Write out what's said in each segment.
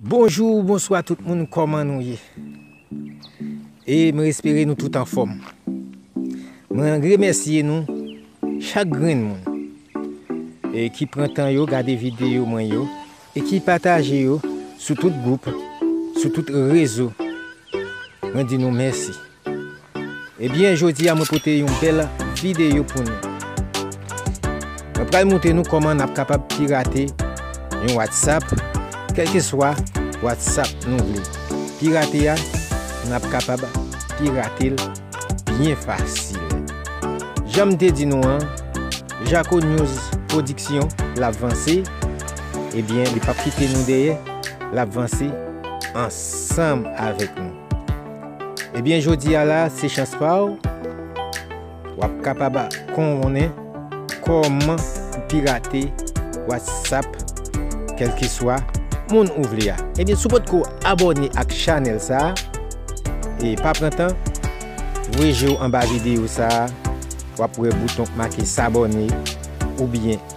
Bonjou, bonswa tout moun kòman nou ye? E m espere nou tout anfòm. Mwen remèsye nou chak grenn moun e ki pran tan yo gade videyo mwen yo e ki pataje yo sou tout gwoup, sou tout rezo. Mwen di nou mèsi. Ebyen jodi a mwen pote yon bèl videyo pou nou Mwen pral moutre nou kòman nap kapab pirate yon whatsapp kèlkeswa whatsapp nou vle pirate a nap kapab piratel byen fasil janm te di nou an jako news pwodiksyon lap vanse ebyen li pap kite nou dèyè lap vanse ansanm avèk nou. Ebyen jodi a la se chans pa w, w ap kapab konnen kòman pou pirate whatsapp kèlkeswa moun ou vle a. Ebyen si w potko abòne ak chanèl sa, e pa pran tan, voye je w anba videyo sa, w ap wè bouton k make sabòne oubyen.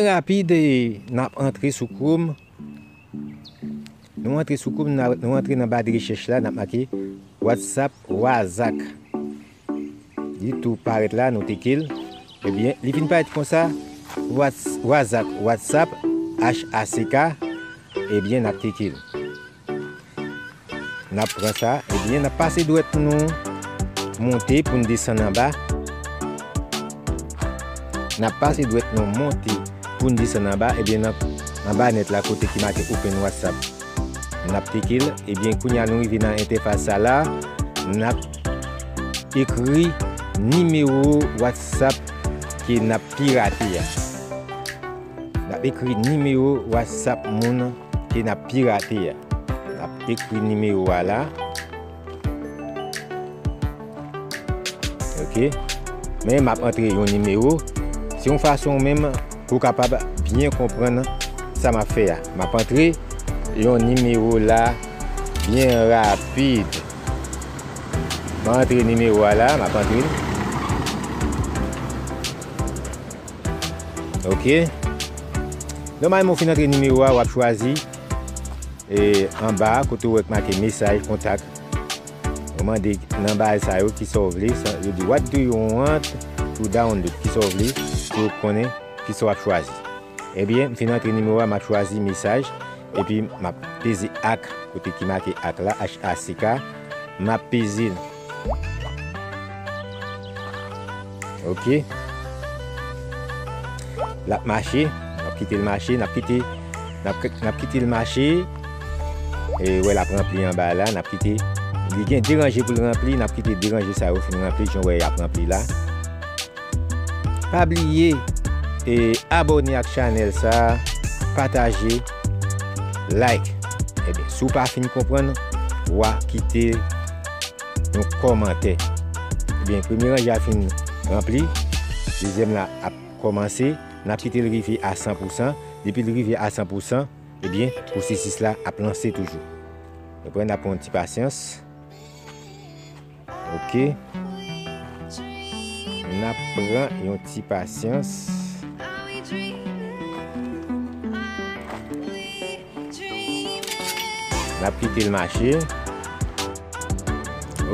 Byen rapid n ap antre sou Chrome. Nou antre sou Chrome, nou antre nan ba de rechèch la, n ap make WhatsApp, wazak. Li tou parèt la nou teke l. Ebyen li vin parèt konsa wazak whatsapp HACK ebyen nap teke l. Nap pran sa ebyen nap pase dwèt nou monte pou n desann anba nap pase dwèt nou monte pou n desann anba ebyen anba nèt la kote ki make open whatsapp. Nap klike l ebyen kounya nou rive nan entèfas sa la nap ekri nimewo watsap ke nap pirate a nap ekri nimewo watsap moun ke nap pirate a nap ekri nimewo a la. Ok, men map antre yon nimewo, se yon fason menm pou kapab byen konprann sa map fè a. Map antre yon nimewo la byen rapid. Mwen antre nimewo a la, map antre. Ok, nòmalman ou fin antre nimewo a, wap chwazi. E anba a kote ou wè k make mesaj, kontak, ou mande nan bagay sa yo kisa ou vle, yo di what do you want to download, kisa ou vle pou yo konnen kisa wap chwazi. Ebyen m fin antre nimewo a map chwazi mesaj epi map peze ak kote ki make ak la, HACK, map peze l. Ok Lap mache Nap kitel mache Nap kite Nap kitel mache E wè lap ranpli anba la Nap kite Li gen 2 ranje poul ranpli Nap kite 2 ranje sa yo fin ranpli Jan wè yap ranpli la Pa bliye e abone ak chanel sa pataje like ebyen si w pa fin konprann wa kite yon komantè ebyen premye ranje a fin ranpli dezyèm la ap komanse nap kite l rive a 100 pousan depi l rive a 100 pousan ebyen pwosesis la ap lanse toujou nou pran nap pran yon ti pasyans. Ok nap pran yon ti pasyans. Nap kitel mache.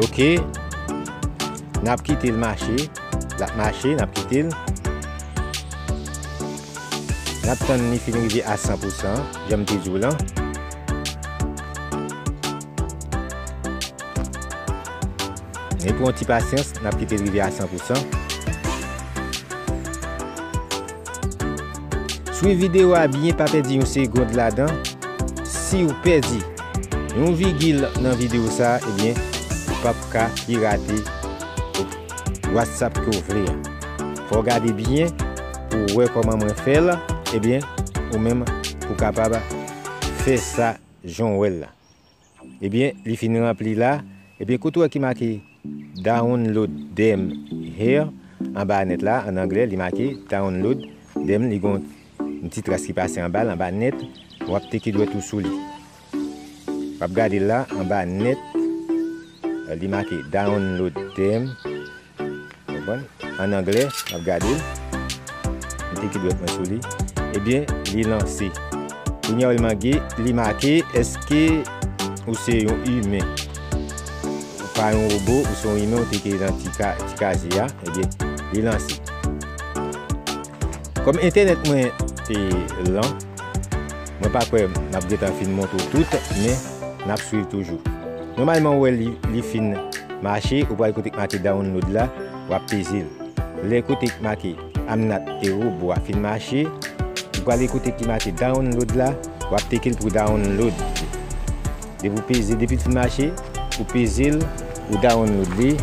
Ok nap kitel mache lap mache nap kitel. Nap tann li fin rive a 100 pousan janm te diw lan. Men pou yon ti pasyans, n ap kite l rive a 100 pou 100. Swiv videyo a byen pa pèdi yon segond ladan. Si w pèdi yon vigil nan videyo sa a, ebyen ou p ap ka pirate whatsapp ke w vle a. Fò w gade byen pou w wè kòman mwen fè l, ebyen ou menm ou kapab fè sa jan w wè l la. Ebyen li fin ranpli la, ebyen kote ou wè ki make download dem here anba a nèt la an anglè li make download dem li gon yon ti tras ki pase anbal anba nèt wap teke dwèt ou sou li wap gadel la anba nèt li make download dem. Konprann? An anglè, m ap gade l. M mete ki dwèt mwen sou li. Ebyen, li lanse. Kounye a, li make, èske ou se yon imen? Ou pa yon wobo, ou se yon imen, ou te kreye nan ti kaje a. Ebyen, li lanse. Kòm entènèt mwen te lan. Mwen pa kwè map gentan fin montre w tout men nap swiv toujou. Nòmalman ou wè li fin mache ou pral kote k make download la wap peze l lè kote k make I'm not a robot a fin mache ou prale kote ki make download la wap teke l pou download li depi ou peze depi l fin mache ou peze l ou download li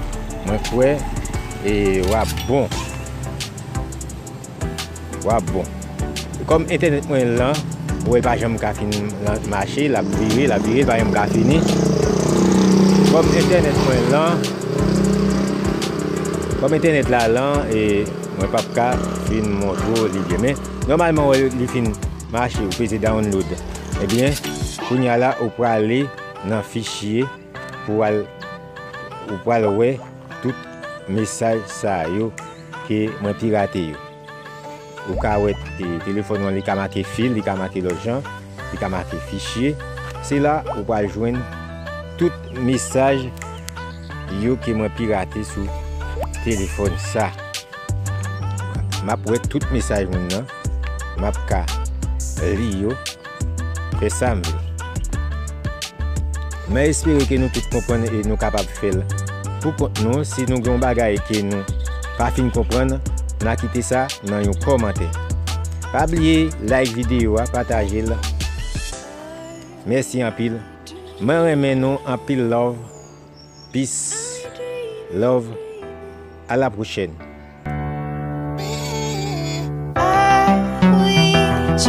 mwen kwè wap bon. Wap bon. Kòm entènèt mwen lan ou wè l pa janm ka fin mache lap vire lap vire l pa janm ka fini kòm entènèt mwen lan kòm entènèt la lan e mwen pap ka fin montre w li byen men nòmalman ou wè l li fin mache ou peze download ebyen kounya la ou prale nan fichye pou al ou pral wè tout mesaj sa yo. Ke mwen pirate yo. Ou ka wè telefòn ou an li ka make fil, li ka make lòt jan, li ka make fichye. Se la ou pral jwenn tout mesaj yo ke mwen pirate sou telefòn sa. Map wè tout mesaj moun nan. Map ka li yo. E sa m vle. Mwen espere ke nou tout konprann e nou kapab fè l pou kont nou. Si nou gen yon bagay ke nou pa fin konprann, na kite sa nan yon kòmantè. Pa bliye like videyo a, pataje l. Mèsi anpil. Mwen renmen nou anpil love. Peace. Love. A la pwochèn.